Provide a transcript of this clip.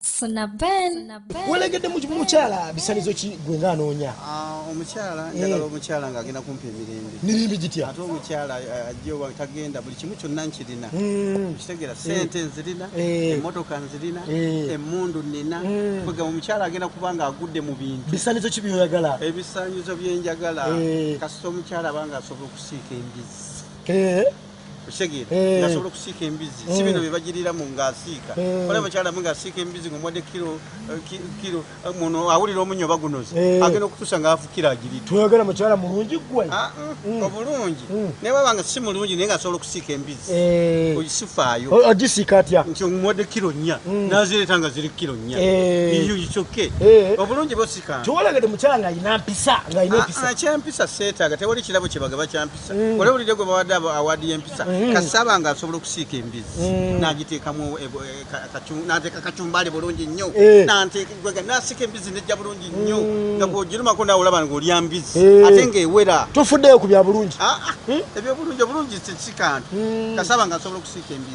funa ben welegedde mukyala bisanizo ki gwe nga anoonya ah, omukyala eh. njagala omukyala nga agenda kumpa emirembe mirembe gitya ate omukyala eh, ajja oba tagenda buli kimu kyonna nkirina hmm. kitegera eh. sente nzirina emotoka nzirina emundu nina hmm. kwega omukyala agenda kuba nga agudde mu bintu bisanizo ki byoyagala ebisanyizo byenjagala kasita omukyala abanga asobola okusiika embizi okitegeera Eh. ngasobola okusiika embizzi si bino byebagiriramu ngaasiika Eh. olaba mukyala mu ngaasiika embizzi ngaomwadde kiro eh, ki- kiro eh, muno awulira omunyo oba gunoze Eh. agenda okutuusa ngaafukira agirita toyogera mukyala mulungi gwe Ah, mm, obulungi Mm. naye baba nga si mulungi naye ngasobola okusiika embizzi Eh, ogisifaayo o- ogisiika atya nti omuwadde kiro nnya Mm. nazireeta nga ziri kiro nnya Eh. iyo kyokke Eh. obulungi bosikaa tiwolagede mukyala ng'alina mpisa ng'alina empisa Ah, ah, kyempisa seetaaga tewali kirabo kyebagaba kyampisa Mm. Wale ulide gwe bawade awadi yempisa mm. Kasaba nga asobolo kusika embizi mm. Na agiteka mwe e, e, kachum, Na ateka kachumbali bulungi nyo eh. Na anteka gwega Na asika embizi neja bulungi nyo mm. Na kujiluma kuna ulaba nga ulia mbizi eh. Atenge wera Tufude kubya bulungi ah, ah. Hmm? Ebya bulungi, bulungi sika antu mm. Kasaba nga asobolo kusika embizi